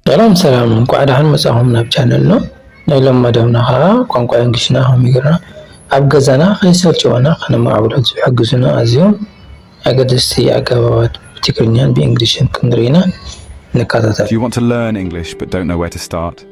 ሰላም ሰላም እንኳዕ ደሓን መጻኹም ናብ ቻነልና ናይ ሎም መደብና ከዓ ቋንቋ እንግሊሽና ከመይ ጌርና ኣብ ገዛና ከይሰልቸወና ከነማዕብሎ ዝሕግዙና ኣዝዮም ኣገደስቲ ኣገባባት ብትግርኛን ብእንግሊሽን ክንርኢ ኢና ንከታተል። Do you want to learn English but don't know where to start?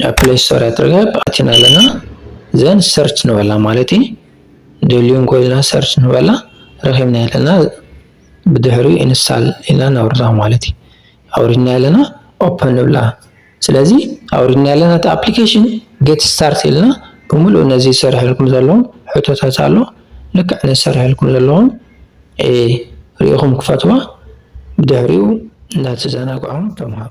ናብ ፕሌይ ስቶር እያ ትርከብ ኣቲና ኣለና ዘን ሰርች ንበላ ማለት እዩ ደልዩ እንኮልና ሰርች ንበላ ረኺብና ኣለና ብድሕሪ ኢንስታል ኢልና ነውርዳ ማለት እዩ ኣውሪድና ኣለና ኦፕን ንብላ ስለዚ ኣውሪድና ኣለና እቲ ኣፕሊኬሽን ጌት ስታርት ኢልና ብምሉእ ነዚ ዝሰርሐልኩም ዘለዎም ሕቶታት ኣሎ ልክዕ ነዚ ዝሰርሐልኩም ዘለዎም ሪኢኹም ክፈትዋ ብድሕሪኡ እናተዘናግዖም ተምሃሩ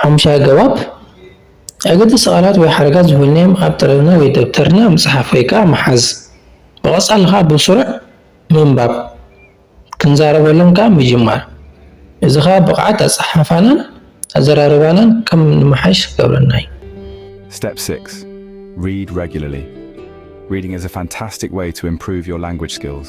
ሓሙሻይ ኣገባብ፣ ኣገደስቲ ቃላት ወይ ሓረጋት ዝኮንናዮም ኣብ ጠለብና ወይ ደብተርና ምጽሓፍ ወይ ከኣ ምሓዝ። ብቐጻሊ ከኣ ብስሩዕ ምንባብ፣ ክንዛረበሎም ከኣ ምጅማር። እዚ ከኣ ብቕዓት ኣጸሓሕፋናን ኣዘራርባናን ከም ንመሓይሽ ክገብረና እዩ። Step 6 Read Regularly Reading is a fantastic way to improve your language skills.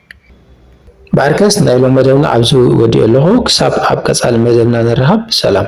ባርከስ ናይ ሎም መደብና ኣብዚ ወዲኤ ኣለኹ ክሳብ ኣብ ቀጻሊ መደብና ንራሃብ ሰላም።